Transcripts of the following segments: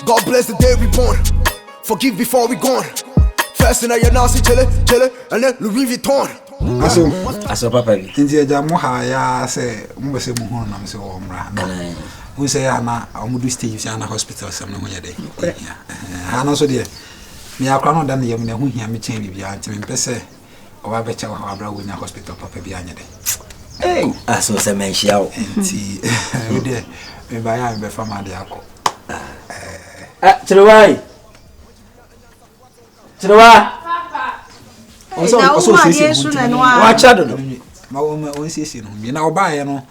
God bless the day we born. Forgive before we gone. First in a year now, see chile, chile, and then Louis Vuitton. aso aso papa bi nti agya mo ha yɛa sɛ mobɛ sɛ mu ho nam sɛ wɔ mmra no wo sɛ yɛ ana ɔmodo stage sɛ ana hospital sɛm no ho yɛ dɛ ha no so deɛ meyɛ akora no da no yam ne ho hia me kyɛn biribiaa nti mempɛ sɛ ɔwɔ abɛkyɛ wɔ hɔ abra wonya hospital papa bi anyɛ dɛ aso sɛ manhyia wo nti wodeɛ mebaeɛ a mebɛfa ma ade akɔ kyerewa kyerewa ɔsɛ ɔsɛ ɔsiesie ho nti wakyɛ dodo ma wɔn ma wɔn siesie no ho bi na ɔbaeɛ no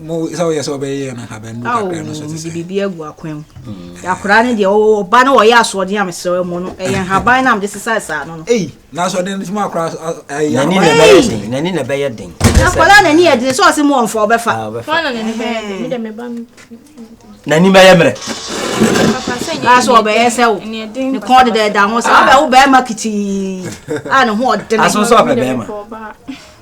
mo sɛ woyɛ sɛ wobɛyɛ no haban du kakra no so te sɛ biribi agu akwan mu mm. akwadaa no deɛ ɔwɔ ɔba no ɔyɛ asoɔden a mesrɛ mu no ɛyɛ nhaban no a mede sesae saa no no ei na asoɔden no tumi akora nani na ɛbɛyɛ den nani na ɛbɛyɛ den akwadaa nani yɛ den sɛ ɔse mu ɔmfa ɔbɛfa nani bɛyɛ mmerɛ aso ɔbɛyɛ sɛ wo ne kɔn deda ɛda ho sɛ wobɛwo bɛrima kitii a ne ho ɔdene aso sɛ ɔpɛ bɛrima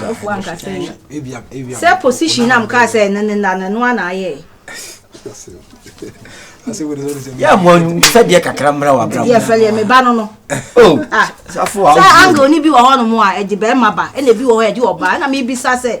Sɔfo anka sɛ sɛ position na mkaa sɛ ne ne na no ana ayɛ. yà mọ sẹdeɛ kakra mmerɛ wà abira mu. yɛ fɛlɛ mi ba no no. Oh. Ah. sɛ angle ni bi wɔ hɔ nom a ɛde bɛrima ba ɛna ebi wɔ hɔ ɛde ɔbaa ɛna mi bisa sɛ.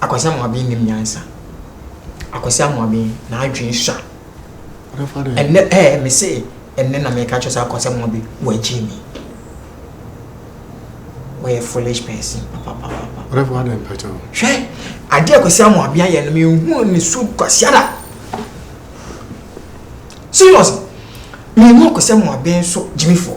Akwasi Amoaben nim nyansa. Akwasi Amoaben n'adwene sua. Ɛnɛ ɛɛ me se ɛnɛ na meka kyerɛ sɛ Akwasi Amoaben wɔagye mi. Wɔyɛ foolish person papapapa. Ɔdɛfo adɛn mpɛkyɛ no. Hwɛ adeɛ Akwasi Amoaben ayɛ no mehu ne su kwasiada. Seriously mehu Akwasi Amoaben so gyimifoɔ.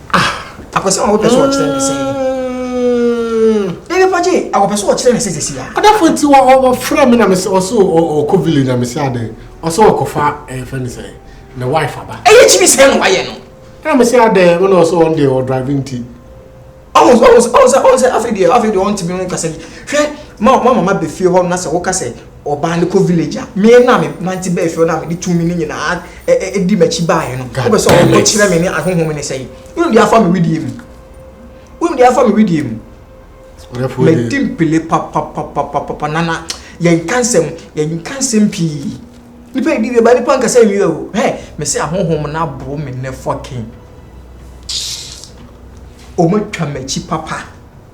ah akɔsɛ wɔn pɛ so wɔkyerɛ ne sɛ nipa gye akɔpɛ so wɔkyerɛ ne sɛ sisi a. ɔdafo nti wɔ wɔ wɔfrɛ mi na mi sɛ ɔsɛ ɔkɔ village na mi sɛ ade ɔsɛ ɔkɔfa ɛyɛ fɛ ne sɛ ne wife aba. ɛyɛ kyimi sɛ ɛna wayɛ no. ɛna mi sɛ ade ɛna ɔsɛ ɔn de ɔdrive nti. ɔn sɛ ɔn sɛ ɔn sɛ ɔn sɛ afei deɛ afei deɛ ɔn ti mi ho kasa bi hwɛ ma ma mama bɛ fie hɔ na sɛ wɔka sɛ. ɔbaa no kɔ village a me na me nante bɛɛ fɛ na mede tumi no nyinaa ɛdi m'akyi baeɛ no wobɛ sɛ ɔkɔ kyerɛ me ne ahonhom ne sɛe wonim deɛ afa me wedeɛ mu wonim deɛ afa me wedeɛ mu madi mpele papapapapapa nana yɛnka nsɛm yɛnka nsɛm pii nipa ɛdi wie ba nipa nkasa nwie o hɛ me sɛ ahonhom no aboro me nɛ fɔken ɔmatwa m'akyi papa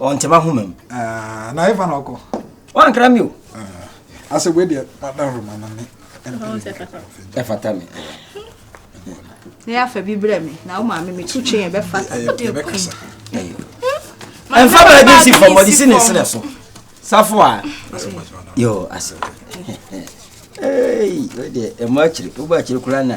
ɔnte m'ahoma mu. Ah, na ɛfa na ɔkɔ. Wankra mi o. Ah, asɛ wei deɛ mada ahoma na me. Ɛfata me. Na yɛafa bi brɛ me na wo maame meto twe yɛn bɛfa sa. Yɛbɛkasa. Ɛmfa baabi si fam ɔde si ne serɛ so. Safo a. Yo, asɛ. Ei, wei deɛ ɛmɔ akyiri, wobɔ akyiri koraa na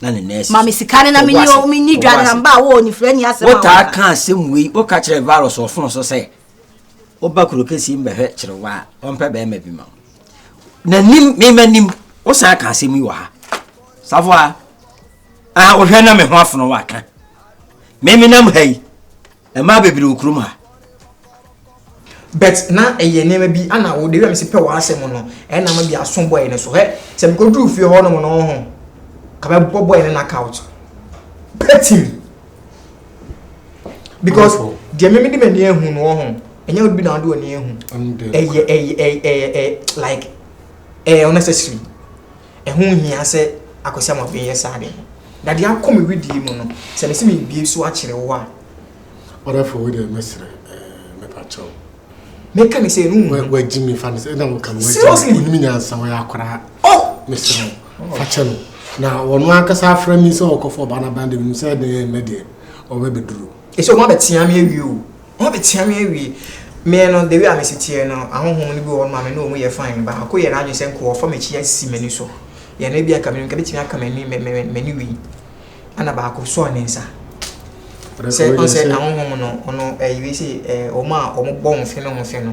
na ne nurse. ma me sika no na menni o menni dwa no na mba wɔ onifirani asɛm a wotaa ka asɛm wei woka kyerɛ virus ɔfon so sɛ woba kuro kɛsi mbɛhwɛ kyerewa a ɔmpɛ bɛrima bi ma wo nanim mema nim wosan ka asɛm yi wɔ ha safo a ah wohwɛ na me ho afono waka memenam ha yi Mmaa bebree wɔ kurom ha. But na ɛyɛ nneɛma bi ana wo de wɛm si pɛ w'asɛm no ɛna ma bi aso bɔyɛ no so hɛ sɛ mekɔ duru fie hɔ nom no ho ka bɛ bɔ bɔyɛ no na couch pɛtim because deɛ meme de m'ani ahu no wɔ ho ɛnyɛ wo bi na wode w'ani ahu ɛyɛ ɛyɛ ɛyɛ ɛyɛ like ɛyɛ unnecessary Ɛho nhia sɛ Akwasiam afei yɛ saa de. Na deɛ akɔ me wedeɛ mu no, sɛ mese mebue so akyere wo a. Ɔdafo wei deɛ mɛsrɛ ɛɛ mepa kyɛw. Mɛka ne sɛ no. Wagyi me fa ne sɛ ɛna wɔka no wagyi me. Onim nyansa wɔyɛ akoraa. Oh! Mesrɛ wo fa kyɛ no. Na wɔn ankasa afrɛ me sɛ ɔkɔfɔ ɔbaa no aban deɛ menim sɛ ɛdeɛ ɛnɛ deɛ ɔbɛbɛduru. Ɛsɛ ɔmo abɛtea me awie o. Hɔn betsea me ewie. Me no, the way a mesi tseɛ no, ahonhom no bi wɔ hɔ nom a me ne wɔn yɛ fine. Baako yɛ n'adwene sɛ nka ɔrefa m'akyi asi m'ani so. Yɛ no ebia nka me no, nka mɛtumi aka m'ani me me m'ani wei. Ɛna baako sɔɔ ne nsa. Sɛ ɔn sɛ ahonhom no, ɔno ɛyɛ wei sɛ ɛɛ wɔn a wɔbɔ ho fe no ho fe no.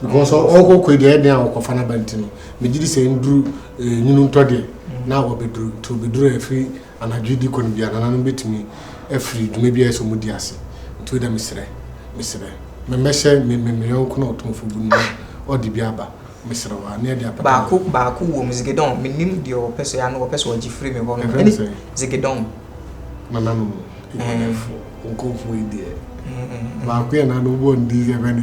because ɔkɔ kɔ deɛ ɛdeɛ a ɔkɔfa n'aba nti no megye di sɛ nduru nwunu ntɔ deɛ na ɔbɛduru nti ɔbɛduru a ɛfiri anadwo di kɔ no bi anananom bɛtumi afiri dwuma bi a ɛsɛ ɔmu di ase nti weda mesrɛ mesrɛ memmɛhyɛ mmeyɔnko na ɔtomfo bu no ɔde bi aba mesrɛ wa ne ɛde apɛ baako baako wɔ mu zigedɔn menim deɛ ɔpɛ sɛ ano ɔpɛ sɛ ɔgye firi me hɔ no ɛne zigedɔn nananom nkɔfoɔ yi deɛ baako yɛ nananom bɔ ndi yɛ bɛne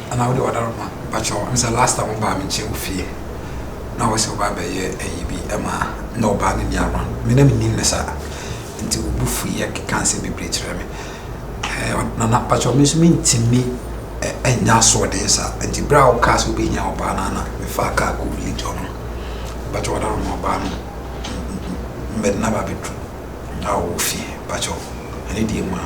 Ana wode wada no ma pakyɛw me sɛ last time wo baa me nkyɛn wo fie na wose wo baa bɛyɛ ayi bi ɛma na wo baa no ni around me na me nim no saa nti wo bu fui yɛ keka nsɛm bebree kyerɛ me ɛɛ nana pakyɛw me nso me ntumi ɛnya asoɔden saa nti bere a wo kaa sɛ wo bɛnya wo baa no ana me fa kaa kɔ village ɔno pakyɛw wada no ma ɔbaa no mbɛde na ba bɛduru na ɔwɔ fie pakyɛw ɛne deɛ mu a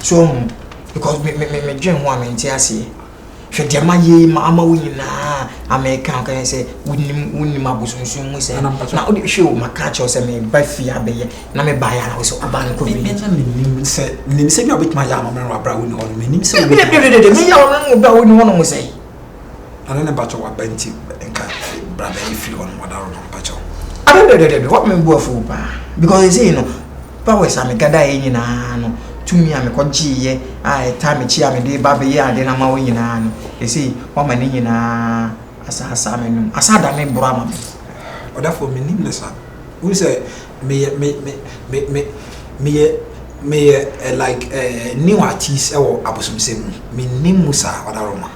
So wohu? Because me me me medwen ho a mente aseɛ. Hwɛ deɛ mayɛ yi ma ama wo nyinaa a meka ɔka yɛ sɛ wonim wonim abosonsom mu sɛ na wode hwɛ o maka akyerɛ wo sɛ meba fie abɛyɛ na mebaeɛ a na wo sɛ woba no covid ɛna menim sɛ menim sɛ bi a wobɛtumi ayɛ ama me no abrɛ a wonni hɔ no menim sɛ wobɛtumi meyɛ ama me no abrɛ a wonni hɔ no mo sɛ Ade ne bakyɛw waba nti nka bra bɛyɛ efiri hɔ no wada hɔ no bakyɛw. Adadadadada wɔn mi bu afuo paa because ɛsɛ yi no powers a me gada yɛ nyinaa no tumi a me kɔ gye yɛ a ɛtaa me kyi a me de ba bɛ yɛ ade na ma wo nyinaa no ɛsɛ yi wɔn ma ne nyinaa asa asa me nom asa da me boro ama me. Ɔdafoɔ menim no sa wohu sɛ. meyɛ me me me me meyɛ meyɛ eh, like eh, new artist ɛwɔ abosomsɛm mu menni mu saa ɔdaroma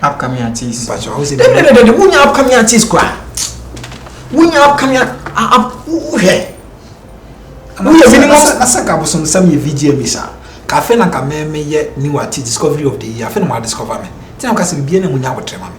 upcoming artist mpakyɛ ɔho sɛ dɛdɛdɛdɛ wonya upcoming artist kora wonya upcoming wohwɛ woyɛ minimum na sɛ nka abosomsɛm yɛ vgm saa ka afei na nka mɛmeyɛ new artist discovery of the year afei na mo adiscover me nti na mo ka sɛ biribiara na mu nya abotrɛ ma me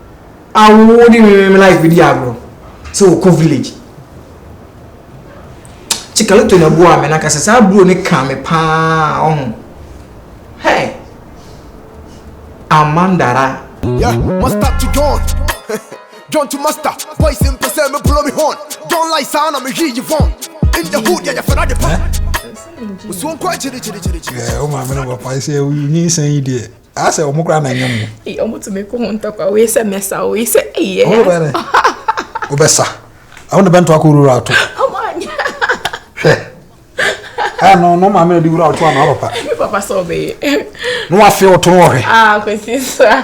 a wode me life bɛdi agorɔ sɛ wɔkɔ village kyekaloto na boa me nankasɛ saa buro ne ka me paa ɔho hey amandara yeah, master to john john to master boys mpɛ sɛ mebolo me hon john lai saa na mehwii yi von in the hood yɛyɛ fɛra de pa musuo nkɔ akyirikyirikyirikyiri wo maame no bɔpae sɛ woyi nyinsɛn yi deɛ asɛ wɔn koraa na nyɛ mu. ee wɔn tumi ko ho ntɔkwa wei sɛ mɛsa wei sɛ eyɛ. wɔn bɛ dɛ wɔbɛsa wɔn de bɛnto akɔ wura ato. wɔn anya. hwɛ ɛɛ no no maame na di wura ato ano ɔpapa. papa sɛ ɔbɛyɛ. na wafe ɔto no wɔhwɛ. aa kwesi sa.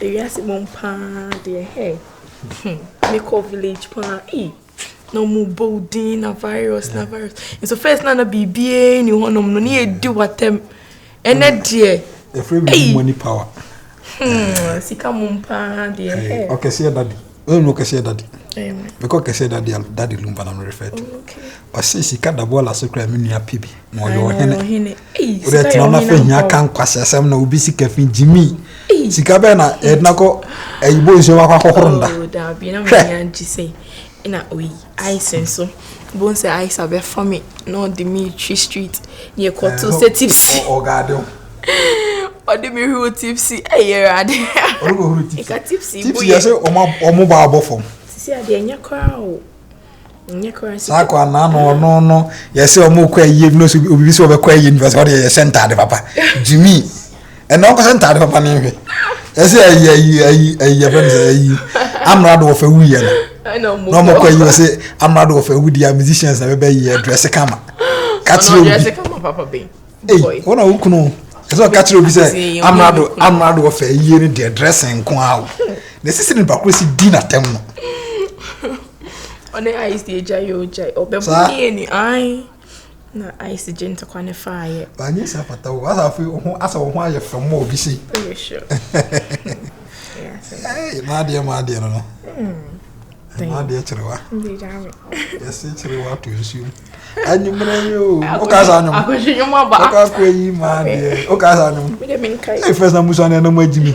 Ewiase mu paa deɛ hey hmm mekɔ village paa ee na ɔmo bɔ din na virus na virus nso first na na biribiara ni hɔnom no ne yɛ di watam ɛnɛ mm. deɛ. efiri mi money power. Hmm, sika mu paa deɛ. ɔkɛseɛ dadi. Ɔyɛ no kɛseɛ dade. Mekɔ kɛseɛ dade a dade lumba na merefer to. Ɔse sika da bɔɔla so kora me nua pɛ bi na ɔyɛ ɔhene. Wode tena na fɛ hia ka nkwasɛ asɛm na obi sika fi gyimi. Sika bɛɛ na ɛdena kɔ ayibo nsuo wakɔ akɔhoro nda. Hwɛ. Ice nso, wobɛhu sɛ Ice abɛfa me na ɔde me retwi street na yɛkɔto sɛ tipsy. Ɔgaade ho. Ɔde me huru tipsy, ɛyɛ Awurade. Ɔde me huru tipsy. Ɛka tipsy bu yɛ. Tipsy yɛ sɛ ɔmo ba abɔ fam. Sisi adeɛ ɛnyɛ koraa o. Ɛnyɛ koraa sisi. Saa kɔ anaa no ɔno no yɛ sɛ ɔmo kɔ ayie no so obibi sɛ ɔbɛkɔ ayie no fɛ sɛ ɔde yɛ sɛ ntaade papa. Jimmy. ɛnna ɔnkɔhyɛ ntaade papa ne nhwɛ ɛsɛ ayi ayi ayi ayi ɛfɛ no sɛ ayi amrado wɔfɛ wuyɛ no na ɔmo kɔ ayi ɔsɛ amrado wɔfɛ wudi a musicians na bɛbɛ yi ɛdrɛse kama kakyere obi eyi wɔn a wokunu ɛsɛ ɔka kyerɛ obi sɛ amrado amrado wɔfɛ yie ne deɛ drɛse nko awo na esisi ne bakoro si di na tɛm no. ɔne ice deɛ gya yɛ ogya ɔbɛbɔ ne yɛ ni ayi. Na ayɛ sɛ gye ntɔkwa ne faayɛ. Banyɛ sɛ apata o, asa afei wo ho asa wo ho ayɛ fam ma obi sei. Ɛyɛ sure. Ɛyɛ maa deɛ maa deɛ no no. Maa deɛ kyerewa. Yɛse kyerewa to nsuo mu. Anwummerɛ yi o, woka sa anwom. Akɔhwe nwom aba. Woka kɔ yi maa deɛ, woka sa anwom. Ɛyɛ fɛs na musu anɛ na mu agyi mi.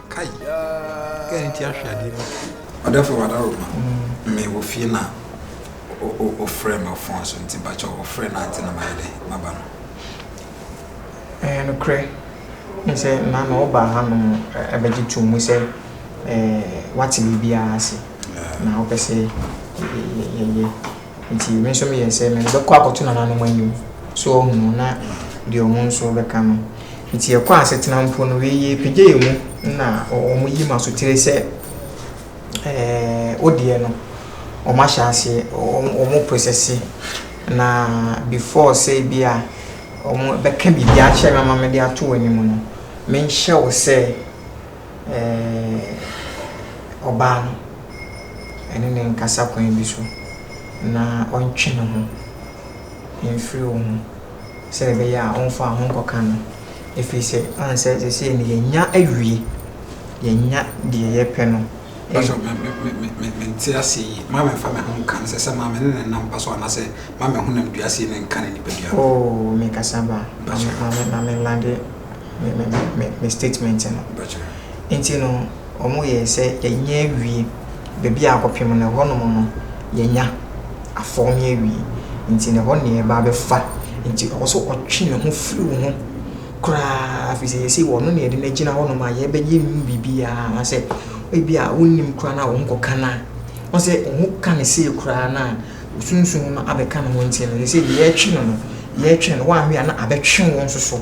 Kai! Kɛ ne ti ahwe adeɛ mu. Ɔdɛfo wada roma me wɔ fie na wofrɛ me wɔ fon so nti mpakyɛw wofrɛ na ante na mayɛ dɛ maba no. Ɛyɛ nokorɛ ne sɛ na na wobaa hanom bɛgye too mu sɛ woate biribiara ase na wopɛ sɛ yɛyɛ Nti me nso meyɛɛ sɛ me bɛkɔ akɔto nananom anim so ɔhunu na deɛ ɔmo nso bɛka no. Nti yɛkɔɔ asetena mpo no wei yɛ pagya yɛ mu na ɔmo yi ma sotire sɛ ɛɛ wodeɛ no ɔmo ahyɛ aseɛ ɔmo prosɛse na before sɛ ebia ɔmo bɛka biribi akyerɛ me ama mede ato w'anim no menhyɛ wo sɛ ɛɛ ɔbaa no, ɛne no nkasa kwan bi so, na ɔntwe ne ho mfiri wo ho, sɛdeɛ ɛbɛyɛ a ɔmfa wo ho nkɔka no. Ɛfiri sɛ, ɔhu sɛ seesei no yɛanya awie, yɛanya deɛ yɛpɛ no. Pastor, me, me, me, me, me, me nte ase yie. Ma me nfa me ho nka no sɛ sɛ ma me ne ne nam mpa so anaasɛ ma me honam dua sei ne nka ne nipadua no. Oh, me kasa ba. Pastor. Ma me, ma me, ma me lande. me me me me statement no. Nti no ɔmo yɛɛ sɛ yɛnyɛ awie baabi a akɔpem no ɛhɔ nom no yɛnya afɔɔme awie nti no ɛhɔ na yɛɛba abɛfa nti ɔwɔ sɛ ɔtwe ne ho fri wo ho koraa firi sɛ yɛsei ɔno na yɛde no agyina hɔ nom a yɛɛbɛyɛ nhu biribiaa anaasɛ ebi a wonnim koraa no a wo ho kɔka no a wahu sɛ wo ho ka no sei koraa no a wo sunsum no abɛka ne ho nti no yɛsei deɛ yɛɛtwe no no yɛɛtwe no woanwe a na abɛtwe wo nso so.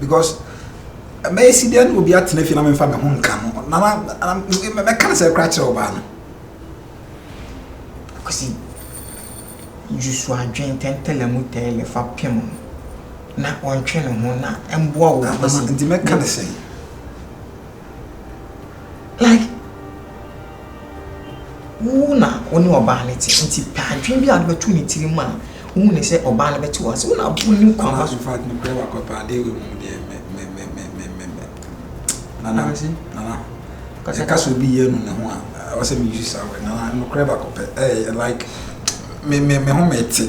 because mɛyɛ si deɛ na obi atena fie na memfa me ho nka no na mɛka no sɛ kora kyerɛ ɔbaa no akwasi yusu adwen tɛntɛlɛ mu tɛɛlɛ fa pem no na ɔntwe ne ho na mboa wo akwasi nti mɛka no sɛ Like, wo na wo ne ɔbaa no te nti pɛ adwene bi a wode bɛto ne tiri mu a wohu ne sɛ ɔbaa no bɛte wo ase wo na wonim kwan fa so. Fact nokorɛ wakwapɛ adeɛ wei mu deɛ mɛmɛmɛmɛmɛ nana nana ɛka sɛ obi yɛ no ne ho a ɛwɔ sɛ meyi saa wɛ nana nokorɛ bakwapɛ ɛyɛ like me me me ho mete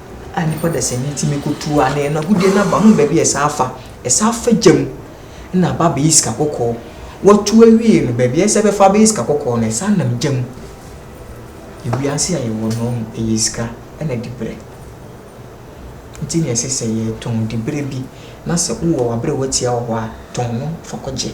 a nnipa dasani tumi kɔ tu a na yɛn agudeɛ no aba ho baabi a ɛsan afa ɛsan afa gya mu na aba abɛyɛ sika kɔkɔɔ wɔtu awie no baabi a ɛsɛ bɛfa abɛyɛ sika kɔkɔɔ no ɛsan nam gya mu ewiase a yɛwɔ no ɔho ɛyɛ sika ɛna dibrɛ nti na ɛsɛ sɛ yɛtɔn dibrɛ bi na sɛ wowɔ wabrɛ watia wɔ hɔ a tɔn no fa kɔgye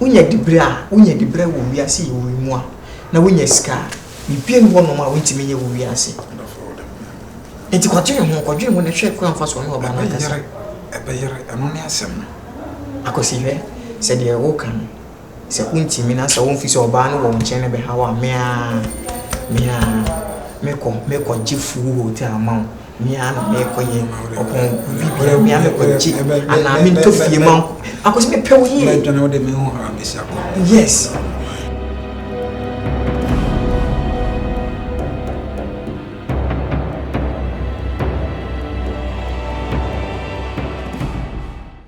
Wonya diberɛ a, wonya diberɛ wɔ wiase yi wei mu a, na wonya sika a, biribiara nni hɔnom a wontumi nyɛ wɔ wiase. Enti kɔdwene ho, kɔdwene ho na hwɛ kwan a wofa so ne ɔbaa no akasa. Ɛbɛyere, ɛbɛyere, ɛno ne asɛm no. Akwasi, hwɛ, sɛ deɛ woka no, sɛ wontumi na sɛ womfi sɛ ɔbaa no wɔ wo nkyɛn na ɛbɛha wo a, me ara, me ara, mekɔ, mekɔgye full hotel ama wo. Mea na merekɔyɛ ɔpɔn biribiara mea mekɔgye anaa mentɔ fie ma nkɔ akɔsi mepɛ wo yie. Mɛdwane wode me ho ara mesi akɔ. Yes.